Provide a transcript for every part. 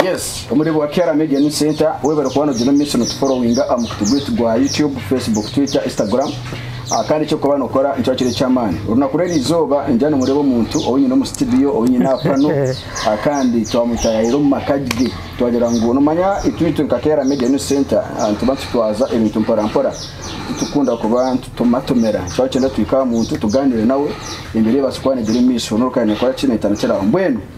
Yes, omureebo wa Kiara Media News Centre weeba orikuba noogira omu maisho nootuforowinga aha mukutu gwaitu gwa YouTube, Facebook, Twitter, Instagram ah kandi eki orikuba nookora nikiba kiri eky'amaani. Orunaku rw'eriizooba ningira nimureeba omuntu ou nyine omu situdiyo, ou nyine aha pano ah kandi twamutaayaayira omu maka ge. Twagira ngu noomanya itweitwe nka Kiara Media News Centre ah nituba nitutwaza ebintu mporampora, titurikukunda kuba nitutomatomera. Nitukira kugyenda tuhike aha muntu tugaaniire nawe, embeera ebaase kuba neegyera omu maisho. N'obu orikuba nooyenda kukora ki, neetandikira aho. Mbwenu.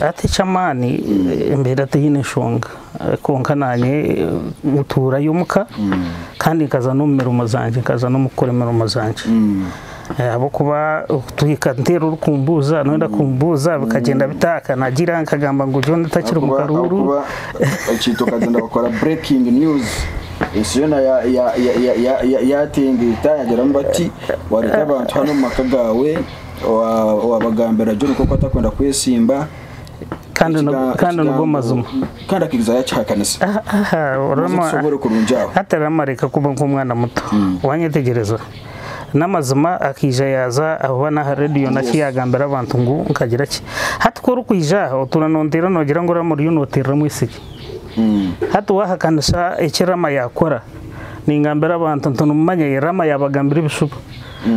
Ati eky'amaani mbeera tihaine nshonga kwonka naanye ntuurayo omuka kandi nkaza n'omu mirimo zangye, nkaza n'omukukora emirimo zangye ahabw'okuba okutuhiga nteera orikumbuuza noyenda kumbuuza bikagyenda bita aha kanagira nkagamba ngu John takiri omu karuuru. Owaabagambira gye omuka oku atakwenda kwesimba. Kandi nigwo amazima. Kandi akaija yaakihakanisa. Hati rero amareka kuba nk'omwana muto. Hmm. Waanyetegyereza? N'amazima akaija yaaza ahuba n'aha reediyo naki yaagambira abantu ngu nkagira ki. Hati ku orikwija aha otuura noonteera noogira ngu Rama oriyo nooteerera omwisiki. Hmm. Hati waahakanisa eki Rama yaakora, ningambira abantu nti nimumanya ye Rama yaabagambira ebishuba.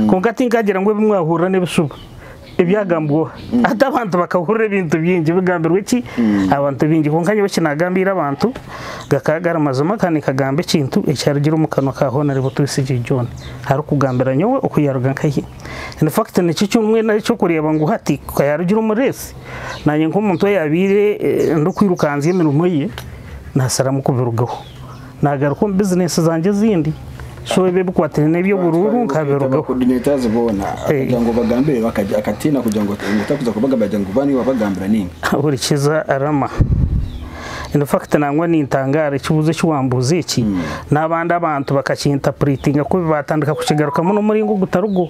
Kwonka tinkagira ngu ebi mwahurira n'ebishuba ebyagambwa oha. Hati abantu bakahurira ebintu bingi bigambirwe ki abantu bingi. Kwonka nyowe eki naagambiire abantu gakaba gari mazima kandi nkagamba ekintu ekyarugire omu kanwa ka Honorable Twesigye John arikugambira nyowe oku yaaruga nkahe. In fact nikyo eki mbwenu ari eky'okureeba ngu hati ku yaarugire omu reesi, naanye nk'omuntu oyaabaire ndikwirukanzya emirimo ye, naasalamu kubirugaho. Naagaruka omu bizineesi zangye ezindi, so ebi ebikwataine n'eby'oburuuru nkabirugaho. Hurikiza Rama. In fact nangwa nintangaara ekibuuzo eki waambuuza eki, n'abandi abantu bakakintapuriitinga kubi baatandika kukigarukamu n'omuringo ogutari gwo.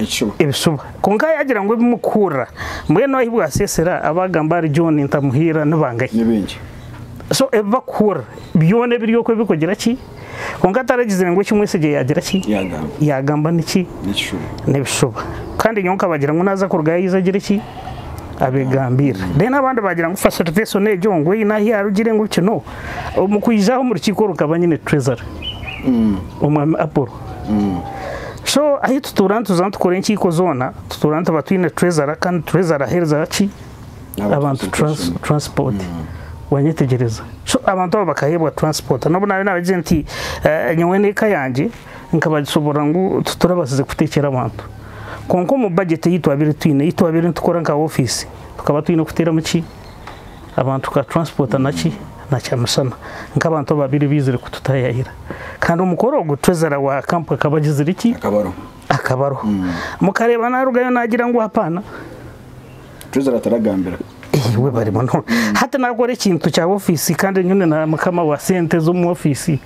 ekishuba. Ebishuba. Kwonka yaagira ngu ebi mukuhurira, mbwenu ahi bwaseesera abaagamba ahari John Ntamuhiira ni bangahi? Ni baingi. So ebi bakuhurira byona ebiri okwo ebirikugira ki? Kwonka ataragizire ngu eki Mwesegye yaagira ki? Yaagamba. Yaagamba ni ki? Ni ekishuba. Ni ebishuba. Kandi nyowe nkabagira ngu naaza kurugayo aije agire ki? Abeegambiire. Then abandi baagira ngu facilitation egyo ngu eine ahu yaarugire ngu biki no. Omu kwija aho omu rukiiko rukaba nyine Treasury, Omwami Apollo. So ahi tutuura nituza nitukora enkiiko zoona tutuura nituba twine Treasurer kandi Treasurer aheereza ki? Abantu Transport. Wanyetegyereza? So abantu abo bakaheebwa Transport. N'obu naabe naabagize nti nyowe n'eka yangye nkabagishoboorora ngu titurabaasize kuteekyera abantu. Kwonka omu budget ei twabaire twine, ei twabaire nitukora nka office, tukaba twine kuteeramu ki? abantu tukaturansipota naki? Na kyamisana. Nk'abantu ababaire baizire kututaayaayira. Kandi omukoro ogwo Twezera wa Camp akaba agizire ki? Akabaroho. Mukareeba naarugayo naagira ngu hapaana? Twezera taragambira. Iwe bari munonga. Hati naakora ekintu kya ofiisi kandi nyowe ndi mukama wa sente z'omu ofiisi.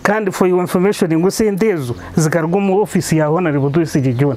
Kandi for your information ngu esente ezo zikaruga omu ofiisi ya Honarebo Twesiigye John.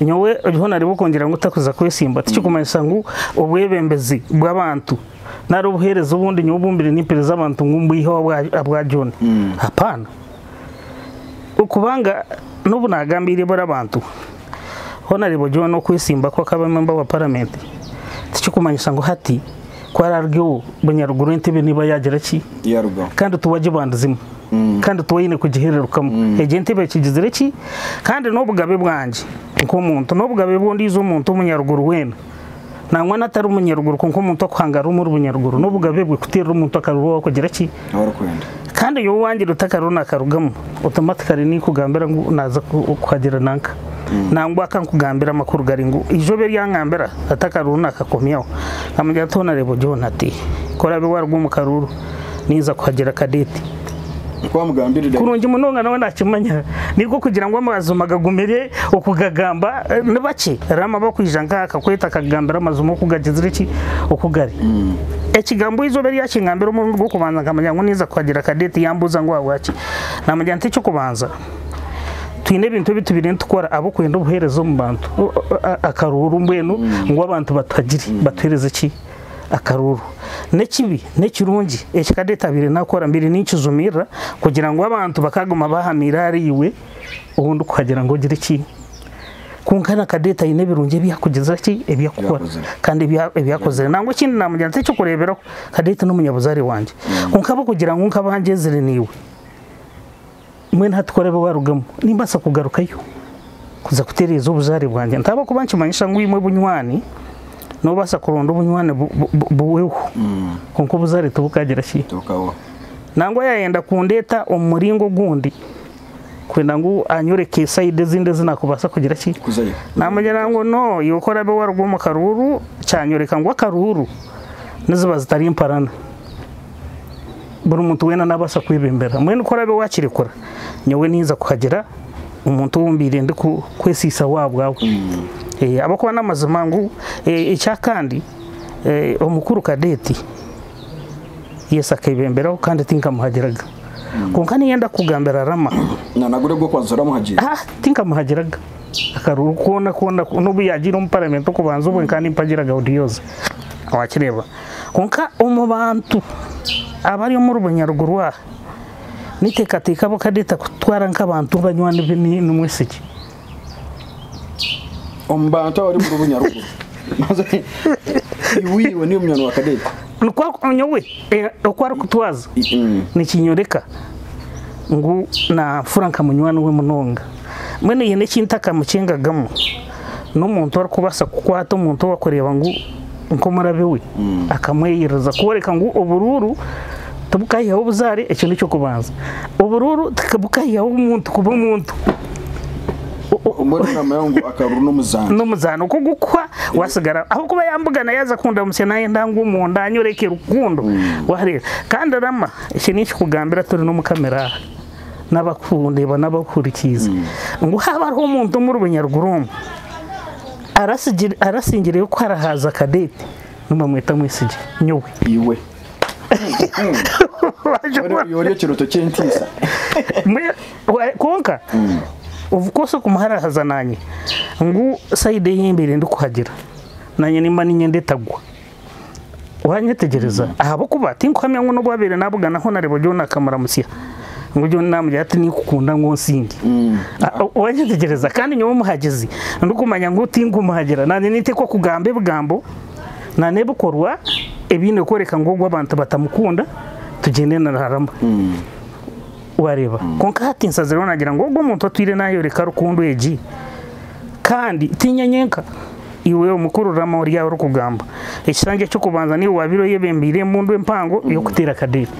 nyowe oriho nareeba okongyera ngu takuza kwesimba tikikumanyisa ngu obwebembezi bw'abantu nari obuhereza obundi nyowe obumbire nimpereza abantu ngu mbwihe abwa John hapana okubanga nobu nagambiire bari abantu ho nareeba oriho nokwesimba ku akaba member wa parliament tikikumanyisa ngu hati ku ararugeho bunyaruguru entebe neba yagira ki kandi tiwagibandizimu. kandi twaine kugihererukamu. Egyo entebe ekigizire ki? Kandi n'obugabe bwangye nk'omuntu, n'obugabe bw'ondiijo muntu omunyaruguru weena, nangwa n'atari munyaruguru kwonka omuntu okuhanga ari omuri bunyaruguru, n'obugabe bwe kuteerera omuntu akaruga ou arikugira ki? Ou arikwenda. Kandi nyowe owangira oti akariho naakarugamu, otomatikali ninkugambira ngu naaza kukuhagira nanka. Nangwa ka nkugambire amakuru gari ngu, eizoba eri angambira ati akariho naakakomyaho, nkamugira nti hoona reeba ori hoona ti? Ku oraabe waaruga omu karuuru, ninza kuhagira Cadette. Nk'oku wamugambirire. Kurungi munonga, nawe naakimanya. Nainga okugira ngu amazima gagumire okugagamba, ni bakye Rama abakwija nk'aha akakweta akakugambira amazima oku gagizire ki, oku gari. Ekigambo eizooba eri yaakingambira omurundi gw'okubanza nkamanya ngu ninza kuhagira Cadette. Yaambuuza ngu ahabwaki. Naamugira nti, Eky'okubanza, twine ebintu ebi tubaire nitukora ahabw'okwenda obuheereza omu bantu. Akaruuru mbwenu ngu abantu batuhagire, batuheereze ki? akaruuru. N'ekibi n'ekirungi eki ka deetabaire nakora mbaire ninkijumirira kugira ngu abantu bakaguma bahamiire ahari iwe obu ndikuhagira ngu ogire ki. Kwonka na Kadeeta aine ebirungi ebi akugizire ki, ebi akukora kandi ebi ebi akozire. Nangwa ekindi namugira nti eky'okureeberaho Kadeeta n'omunyabuzaare wangye. Kwonka ahabw'okugira ngu nkaba ngyezire naiwe. Mbwenu hati ku araabe waarugamu, nimbaasa kugarukayo kuza kutereeza obuzaare bwangye? Nti ahabw'okuba nikimanyisa ngu imwe bunywani, noobaasa kuronda obunywani buhweho, kwonka obuzaare tibukagira ki? Nangwa yaayenda kundeeta omu muringo ogundi, kwenda ngu anyoreke saidi ezindi ezi naakubaasa kugira ki? Naamugira ngu, No, iwe ku oraabe waaruga omu karuuru, kyanyoreka ngu akaruuru niziba zitari mparana. buri muntu weena naabaasa kwebeembera. Mbwenu ku oraabe waakirekura, nyowe ninza kuhagira omuntu ou mbaire ndikwesihisaho ahabwawe. Ahabw'okuba n'amazima ngu ekya kandi omukuru Kadeeti Yesu akeebemberaho kandi tinkamuhagiraga. Kwonka niinye ndakugambira Rama, tinkamuhagiraga. Akaruru koona koona n'obu yaagiire omu Paramenti okubanza obwe nkaba nimpagiraga Odioze. Waakireeba? Kwonka omu bantu abari omu rubunya ruguru aha, n'enteekateeka abo ka n'etakutwara nk'abantu banywani be n'omwisiki. Omu bantu abari omu rubunya ruguru. Iwe iwe niiwe munywani wa Kadeete. Nikwo nyowe oku arikutwaza nikinyoreka ngu naanfura nka munywani we munonga. mbwenu aine eki ntakamukingagamu n'omuntu orikubaasa kukwata omuntu ou arikureeba ngu nk'omurabi we akamweyereza kworeka ngu oburuuru tibukaihaho buzaare ekyo n'eky'okubanza. Oburuuru tibukaihaho omuntu kuba omuntu. Mbwenu nigamanya ngu akaruuru n'omuzaano. N'omuzaano okwo gukuhwa watsigara ahabw'okuba yambugana yaaza kundamutsya naayenda ngwe omunda anyoreke rukundo. Waareeba? Kandi Rama, eki eki ninkikugambira turi n'Omukama eraaha. n'abarikundeba n'abarikuhurikiiza ngu haaba hariho omuntu omuri banyaruguru omu arasingireyo kuhara haaza Cadet, nibamweta Mwesigye. Nyowe. Iwe. Iwe ori ekirooto ky'entiisa. Kwonka obu kubaasa kumuharaahaza naanye ngu sayidi ei mbaire ndikuhagira naanye nimba niinyenda etagwa. Waanyetegyereza? Ahabw'okuba tinkuhamya ngu n'obu abaire naabugana ahu nareeba John akamuramutsya, ngu John naamugira ati, Ninkukunda ngu onsinge. Waanyetegyereza? Kandi nyowe omuhagizi, ndikumanya ngu tinkumuhagira. Naanye ninteekwa kugamba ebigambo na n'ebikorwa ebiine kworeka ngu ogwo abantu batamukunda, tugyende niraharama. Waareeba? Kwonka hati nsazireho naagira ngu ogwo muntu atwire naayoreka rukundo egi. Kandi tiinye nyenka. Iwe omukuru Rama ori aho orikugamba, ekishangi eky'okubanza niiwe waabaire oyebembeire embundu empango y'okuteera Kadeeri.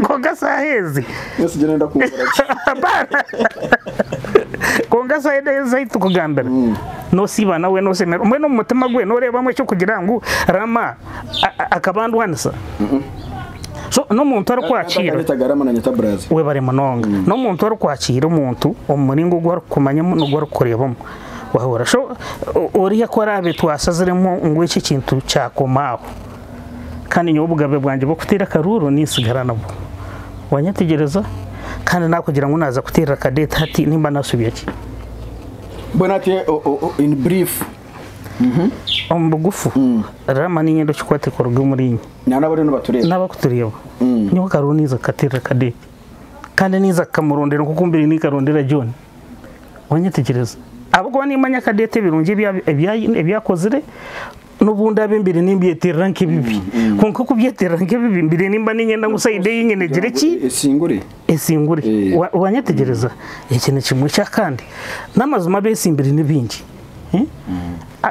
Kwonka saaha ezi. Ensigye neenda kunkora ki? Apana! Kwonka saaha ezi ahu turikugambira, noosiiba nawe noosemererwa. Mbwenu omu mutima gwe nooreebamu eky'okugira ngu Rama. akabandwanisa so n'omuntu arikwakiira webare munonga mm. n'omuntu arikwakiira omuntu omu muringo ogu arikukumanyamu n'ogu arikukureebamu wahura so oriya ku araabe twasaziremu ngu eki ekintu kyakoma aho kandi nyowe obugabe bwangye bw'okuteera akaruuru ninsigara nabwo wanyetegyereza kandi nakugira ngu naaza kuteerera akadeeta hati nimba naasubya ki mbwenu ati in brief Omu bugufu, Rama niinye ndi okikwate kuruga omuri inye. Nana abariyo nibatureeba. N'abakutureeba. Nyowe akaro ninza kukateerera Kadeepi. Kandi ninza kukamurondera nk'oku mbaire ninkarondera John. Wanyetegyereza? Ahabw'okuba nimmanya Kadeepi ebirungi ebi ebi ebi akozire, n'obu ndaabe mbaire nimbyeteerera nk'ebibi. Kwonka kubyeteerera nk'ebibi, mbaire nimba niinyenda ngu sayidi ei nyine egire ki? Esingure. Esingure. Wa wanyetegyereza? Ekyo ni kimwe. Eky'akandi, n'amazima abeetsimbire ni baingi.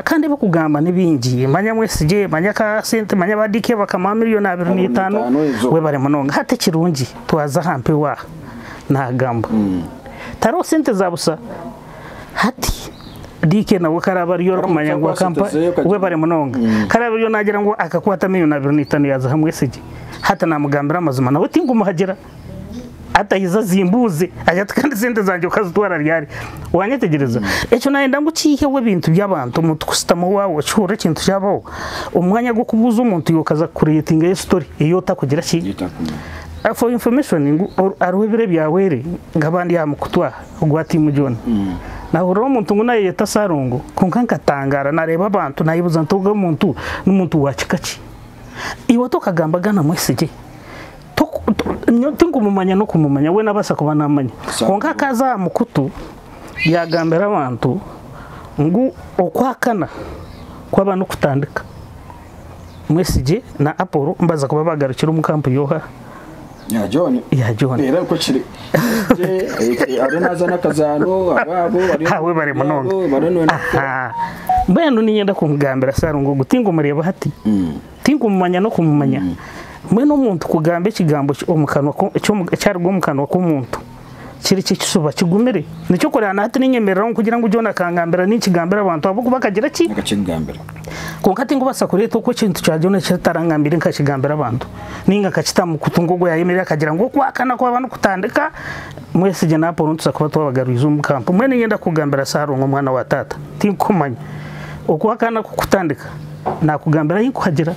Kandi ebikugamba ni bingi manya mwesigye manya ka sente manya ba DK bakamuha million abiri na itano webare munonga hati ekirungi twaza aha mpewo aha nagamba tariho sente za busa hati DK nawe ku araba ariyo arikumanya ngu akampa webare munonga ku araba ariyo nagira ngu akakwata million abiri na itano yaziha mwesigye hati namugambira amazima nawe tingumuhagira. Hati aija azimbuuze agira ati kandi sente zangye okazitwara ryari? Waanyetegyereza? Ekyo naayenda ngu kiiheho ebintu by'abantu, omuntu kushutama waawe okihurira ekintu kyabaho, omu mwanya gw'okubuuza omuntu iwe okaza kukureetingayo story ei otakugira ki? For your information ngu hariho ebiro ebyahwere nkaba ndi aha mukutu aha ogwa Team John, naahuriraho omuntu ngu naayeyeta Salongo kwonka nkatangaara naareeba abantu naayebuuza nti ogu omuntu n'omuntu wa kika ki? Iwe tokagambaga na mwesigye? Tinkumumanya n'okumumanya, we nabaasa kuba namanya kwonka akaza aha mukutu yagambira abantu ngu okwakana kwaba nokutandika mwesigye na Apolo nibaza kuba bagarukire omu kampu yoha? ya John era nikwo kiri ariyo nazaana akazaano abaabo ahabwe bari munonga mbwenu ninyenda kumugambira Sarongo ngu tingumureeba hati Tinkumumanya n'okumumanya. Mbwenu omuntu kugamba ekigambo ekyaruga omu kanwa k'omuntu kiri kye kisuba kigumire? Nikyo kureba na hati ninyemereraho kugira ngu John akangambira ninkigambira abantu ahabw'okuba akagira ki? Akakigambira. Kwonka tinkubaasa kureeta oku ekintu kya John eki ataraangambiire nkakigambira abantu nainga nkakita mu kutu nk'oku yaayemerire akagira ngu okwahakana kwaba nikutandika, Mwesigye na Apolo nitubaasa kuba twabagarwize omu kampu. Mbwenu niinyenda kukugambira Saalongo mwana wa taata, tinkukumanya. Okwahakana kukutandika. Naakugambira ahi kuhagira.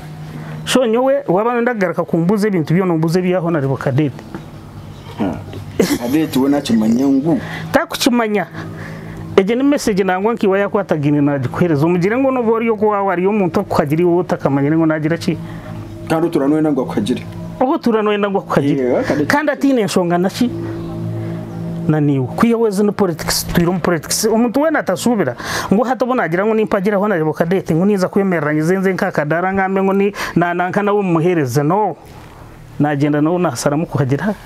Sho nyowe waaba nooyenda kugaruka kumbuuza ebintu byona ombuuze eby'aho nareeba Kadeeti. Kadeeti we naakimanya ngu. Taakukimanya. Egyo ni mesegi nangwa nk'iwe yaakwatagaine naagikuheereza. Omugire ngu n'obu ori owaawe ari omuntu arikukuhagira iwe otakamanyire ngu naagira ki? kandi otuura noyenda ngu akuhagire oba otuura noyenda ngu akuhagire Yeah, kandi- kandi ataine nshonga naki naniiwe kwihaho ezi nipolitikisi twiire omu politics omuntu weena atashuubira ngu hati obu nagira ngu nimpagire ahu nareeba okadate ngu ninza kwemerera nyize nze nk'akadaara ngambe ngu ni nananka nawe mumuhereze no nagyenda nawe nasharamu kuhagira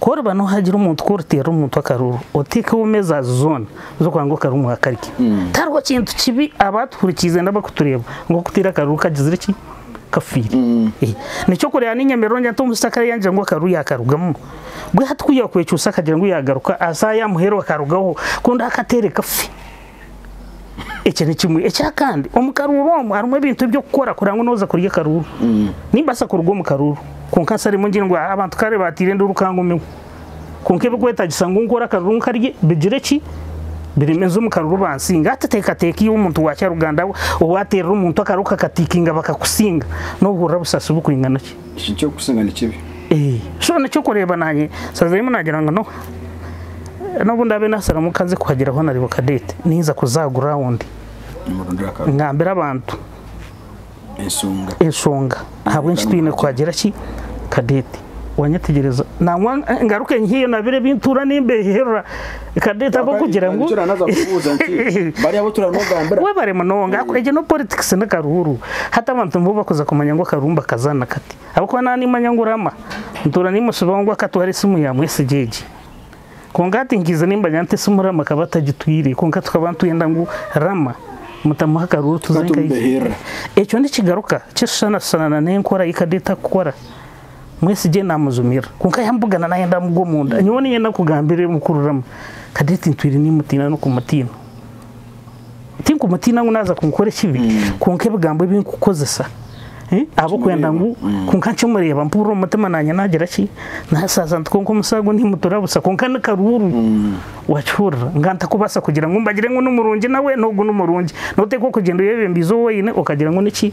Ku oriba noohagira omuntu, ku oriteerera omuntu akaruru, oteekeho emezaazi zoona z'okugira ngu akaruru mwakarya. Tihariho kintu kibi abaatuhurikiize nari abarikutureeba ngu okuteera akaruru kagizire ki? Kafiire. Nikyo kureeba n'enyemerero ngyete omushiki akaba yaagira ngu akaruru yaakarugamu, mbwenu hati ku yaakwekyusa akagira ngu yaagaruka, aza aha ya muheru akarugaho, konda akateere kafe. Ekyo ni kimwe. Ekya kandi, omu karuuru omu harimu ebintu eby'okukora kureba ngu nooza kurya akaruuru. Nimbaasa kuruga omu karuuru, kwonka nsa rimwe ngire ngu aa abantu kare baateire enduuru ka ngumeho. Kwonka ebirikwetaagisa ngu nkore akaruuru nkarye bigire ki, bireme nze omu karuuru bansinge. Hati teekateeka iwe omuntu wa kyaruganda owaateerera omuntu akaruuru kakatiikinga bakakusinga, noohurira busasi burikwingana ki? Eki nikyokusinga nikibi. So nikyo orikureeba naanye sazaimu naagira ngu no n'obu ndaabe naasara omukazi kuhagira hoona aribo cadet ninza kuza aha ground ngambire abantu enshonga ahabw'enki twine kuhagira ki cadet, waanyetegyereza, nangwa ngaruke nyiheyo nabire ebi ntuura nimbeeherera. Kadette ahabw'okugira ngu webare munonga ahabw'okugira egyo no politics ni karuuru hati abantu nibo bakuza kumanya ngu akaruuru nibakazana kati ahabw'okuba naba nimanya ngu Rama nituura nimushaba ngu akatware esimu ya Mwesigye egyi kwonka hati nkiija nimanya nti esimu Rama akaba atagitwire kwonka tukaba nitwenda ngu Rama mutamuhe akaruuru tuze nkaija ekyo nikigaruka kishushanashushanana n'enkora yi Kadette akukora mwesigye namujumirira kwonka yamubugana nayenda amugwe omunda nyowe ninyenda kugambira emukuriramu Cadette ntwire nimutiina nokumutiina tinkumutiina ngu naza kunkora ekibi mm. kwonka ebigambo ebinkukozesa eh, abokwenda ngu mm. kwonka nkimureeba mpurira omutima nanye nagira ki nasaza nti kwonka omusago nimutura busa kwonka nikaruuru mm. wakihurira nga ntakubasa kugira ngu mbagire ngu nimurungi nawe nogu nimurungi noteka okugyenda oyebembiize owoine okagira ngu niki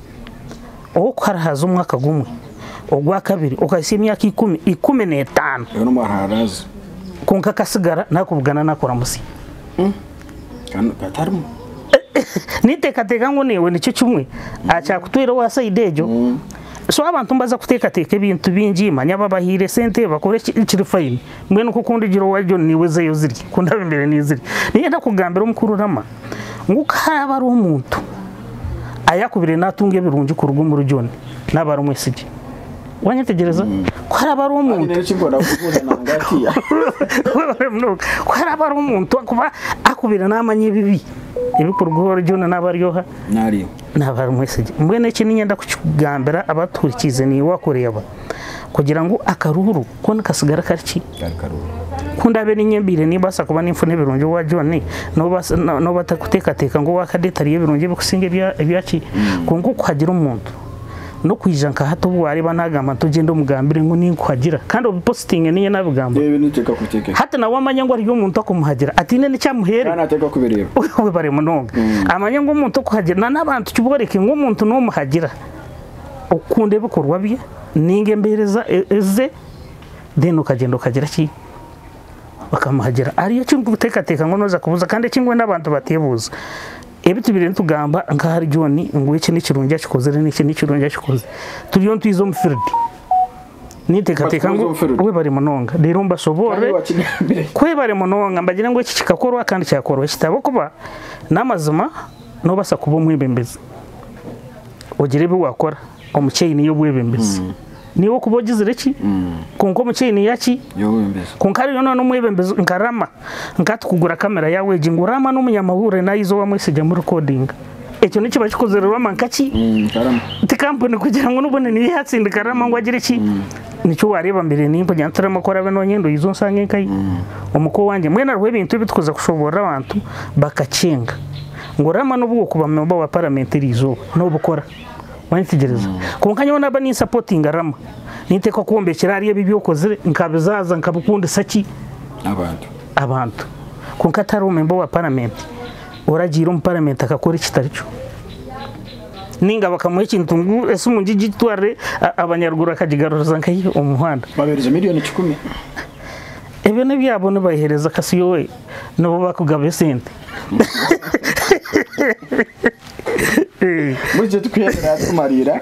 ow'okuharaahaza omwaka gumwe, ogwa kabiri okahitsya emyaka ikumi, ikumi n'etaano. Reero mbwenu aharaaze. Kwonka akasigara naakubugana naakuramutsya. Kandi hatarimu. Ninteekateeka ngu naiwe nikyo kimwe, aha kyakutwire owa sayidi egyo. So abantu nibaza kuteekateeka ebintu bingi, manya babahaire sente, bakore ki, kiri fayini. Mbwenu nk'oku ndigira owa John naiwe zeeyo zirye, ku ndaabe mbaire ninzirya. Niinyenda kukugambira Mukuru Rama, ngu ku haraaba hariho omuntu ayakubire natunga ebirungi kuruga omuri John, naba ari omwesigye. Wanyetegyereza? Ku haraaba hariho omuntu ku haraaba hariho omuntu akuba akubire namanya ebibi ebikuruga owari John naba ari oha? Naba ari omwesigye. Mbwenu eki niinyenda kukigambira abatuhurikiize niiwe akureeba kugira ngu akaruhuru Ko nikatsigara kari ki? Kari karungi. Ku ndaabe niinyembeire nimbaasa kuba ninfuna ebirungi owa John, n'obu atarikuteekateeka ngu owaakadeti ariyo ebirungi ebikusinga ebya ki? Kwonka okuhagira omuntu, n'okwija nka hati obu waareeba naagamba nti ogyenda omugambire ngu ninkuhagira kandi obipositinge niinye naabigamba. Hati nawe amanye ngu hariyo omuntu akumuhagira ataine n'eki amuhaire. Webare munonga. Amanye ngu omuntu okuhagira, n'abantu ki booreke ngu omuntu noomuhagira. okukunda ebikorwa bye ninga embereza ze then okagyenda okagira ki okamuhagira hariyo eki orikutekateka ngu noza kubuza kandi eki mbwenu abantu batebuza ebi tubaire nitugamba nka ahari John ngu eki nekirungi akikozire ngu eki nekirungi akikozire turiyo nitwiza omu field nintekateka ngu webare munonga reero mbashoboorore webare munonga mbagire ngu eki kikakorwa kandi kyakorwa eki ahabw'okuba n'amazima nobasa kuba omwebembezi. ogire ebi wakora omu chain y'obwebembezi niiwe okuba ogizire ki kwonka omu chain yaki Y'obwembezi. kwonka hariyo na n'omwebembezi nka Rama nka hati kugura camera yaawe egi ngu Rama n'omunyamahurire naawe iza owamwesiga mu recordinga ekyo nikiba kikozire Rama nka ki Mm, Karama. ti kampuni kugira ngu n'obundi niyo eyatsindika Rama ngu agire ki nikyo waareeba mbere ninkugira nti Rama ku oraabe noonyenda oije onsange nkahi omu ka owangye mbwenu hariho ebintu ebi turikuza kushoboorora abantu bakacenga. Ngu oraamanya n'obu wokuba memba wa paramenti erizooba nobikora wayetegyereza kwonka nyowe naba ninsapotinga rama ninteekwa kwombekyera ahari ebi ebyokozire nkabizaaza nkabikundisa ki abantu abantu kwonka atariho memba wa paramenti oragiire omu paramenti akakora ekitarikyo ninga bakamuha ekintu ngu esimu ngi gitwarire abanyaruguru akagigaruriza nkahi omu muhanda babereza miliyoni kikumi ebyo nebyabo nibayihereza kasi yowe nibo bakugaba esente Buri kyo tukuheerera tukumariira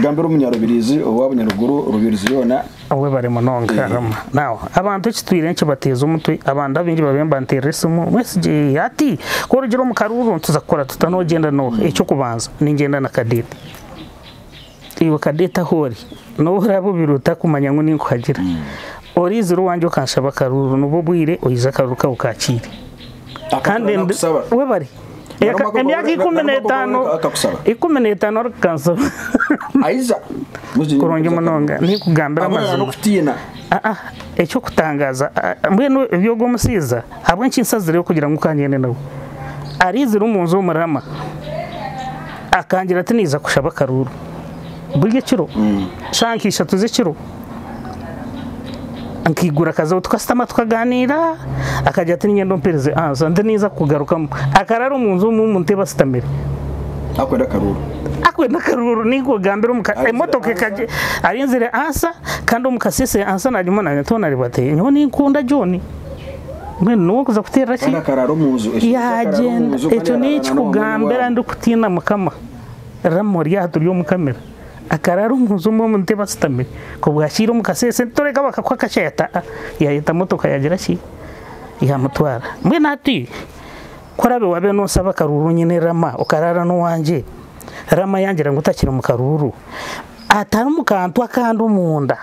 Gambira omunyarubirizi owa bunyaruguru Rubirizi yoona Webare munonga Karama. Now, abantu ekitwire nikibateeza omutwe, abandi abaingi babaire nibanteerera esimu, Mwesigye ati, ku orugire omu karuuru nituza kukora tuta, noogyenda n'oha? Eky'okubanza, ningyenda na Cadet. Iwe kadeete ahu ori, nobu oraabe obiire otakumanya ngu ninkuhagira, oriizira owangye okanshaba akaruuru, nibwo obwire oije akaruuru kawe okaakiire. Kandi ndi. Webare. Emyaka ikumi n'etaano, ikumi n'etaano ari kukansaba. Aiza. Kurungi munonga. Ninkugambira amazima. Aa, eky'okutangaaza, mbwenu eby'ogwo omusaiza. Ahabw'enki nsazireho kugira ngu ka ngende nawe? Araizire omu nju omu Rama, akangira ati, Naija kushaba akaruuru buri ekiro, shaaha nka ishatu z'ekiro. Nkaigura akazaho tukashutama tukagaaniira. Akagira ati, Niinyenda ompeereze ansa, ndi naija kukugarukamu. Akaraara omu nju omu ntebe ashutamire. Arikwenda akaruuru. Arikwenda akaruuru, ninkugambira omu ka, emotoka ekagye. Arinzire ansa, kandi omu kasese ansa naagimona. Nyowe ninkunda John. mbwenu nowe kuza kuterera ki yagyenda ekyo nekikugambira ndi kutiina mukama rama ori aha turi omu camera akarara omunju omwe omu ntebe ashutamire kobwakiira omu kasese toreka bakakuha akashayi ati aa yayeta motoka yagira ki yamutwara mbwenu hati ku orabe wabe nosaba akaruru nyine rama okarara nowangye rama yangira ngu takiri omu karuru atari omu kantu akandi omunda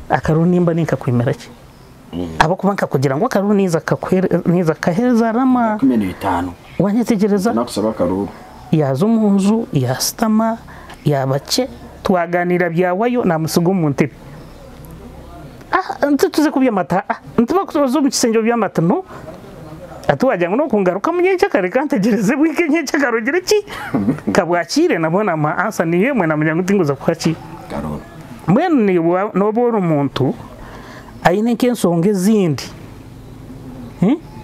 akaruru nimba ninkakwimira ki. ahabw'okuba nkakugira ngu akaruuru naija kukaheereza Rama. Waanyetegyereza? Yaaza omu nju, yaashutama, yaaba kye, twagaaniira byawayo, naamutsiga omu ntebe. Nti tuze kubya amata? Haa, nti bakuza oze omu kishengye obye amata? No. Hati waagira ngu n'okungarukamu nyenkya kare kantegyereze bwe nk'enyenkya kare ogire ki? Ka bwakiire nabwo naamuha ansa niyo emwe naamanya ngu tinguza kuha ki? Mbwenu niiwe nooba ori muntu. aine nk'ensonga ezindi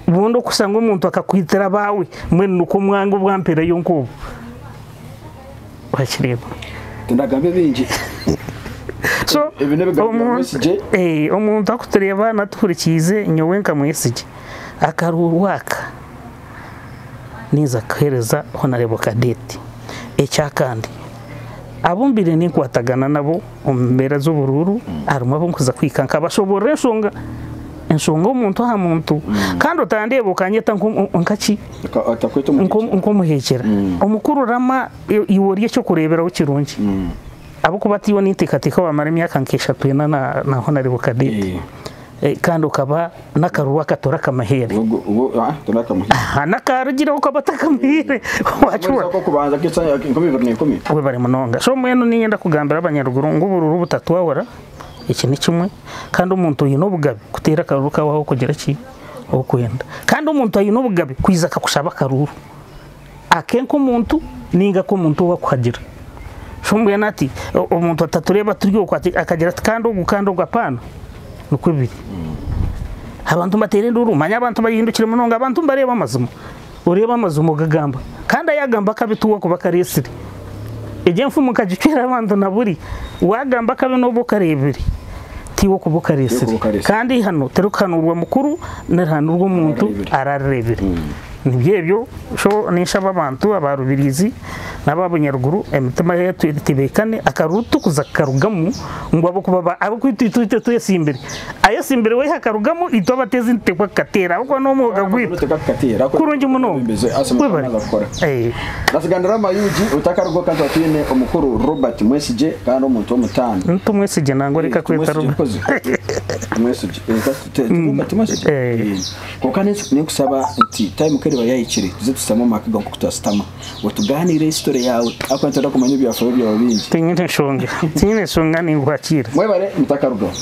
bundi okushusha ngu omuntu akakwitira abaawe mbwenu nikwo omwanga obwampereyo nk'obu orakireba tindagambe bingi so ebi n'ebigambo bya omuntu Mwesigye. eh, omuntu akutureeba natuhurikiize nyowe nka mwesigye akaruuru aka ninza kuheereza honarebo kadeeti. Ekyakandi abu mbaire ninkwatagana nabo omu mbeera z'oburuuru harimu abu nkuza kuhika nkabashoboorora enshonga enshonga omuntu aha muntu kandi otandeeba okanyeta nkaki nk'omuheekyera omukuru rama iwe ori eky'okureeberaho kirungi ahabw'okuba tiiwe ninteekateeka waamara emyaka nk'eshatu ena na honarebo kadeeti kandi okaba N'akaruru aka torakamuhaire. Aha, n'akarugireho ku abatakamuhaire. Wakibona? Webare munonga. So mbwenu niinyenda kugambira abanyaruguru ngu obururu butatwahura, eki ni kimwe, kandi omuntu oine obugabe kuteera akaruru kaawe ah'okugira ki? Ah'okwenda. Kandi omuntu aine obugabe kwija akakushaba akaruru. Ake nk'omuntu nainga ake omuntu ou akuhagira. So mbwenu ati omuntu atatureeba turi oku ati akagira ati kandi ogu kandi ogu apaana nikwo biri. Abantu nibateera enduuru manya abantu baihindukire munonga abantu nibareeba amazima. Oreeba amazima ogagamba kandi ayagamba akabi tiwe akuba akareetsire. Egi enfumu nkagicwera abantu na buri wagamba akabi n'obu okareebire tiwe okuba okareetsire. Kandi eihano tirikuhanuurwa mukuru nirihanuurwa omuntu ararireebire. Nibyo ebyo sho ninshaba abantu aba Rubirizi naba Bunyaruguru emitima yaitu etebeekane akaruru tukuza kukarugamu ngu ahabwokuba abokwitu itwe itwe twesimbire ayesimbire wehe akarugamu itwe abateezi nituteekwa kukateera ahabwokuba n'omwoga gwaitu kurungi munonga webare. Nasiganirama Ug otakaruga oka nituba twine omukuru Robert Mwesigye kandi omuntu w'omutaano. Ni Tumwesigye nangwa reka kweta Robert. Tumwesigye. Kwonka n'ensi n'enkusaba nti time ku eriba yahikire tuze tusitame omu maka gaawe nk'oku twasitama otugaaniire history yaawe ahakuba nitwenda kumanya ebyafaayo byawe bingi. Tinyine enshonga, tinyine enshonga ninguhakiira. Mwebare mutakarugaho.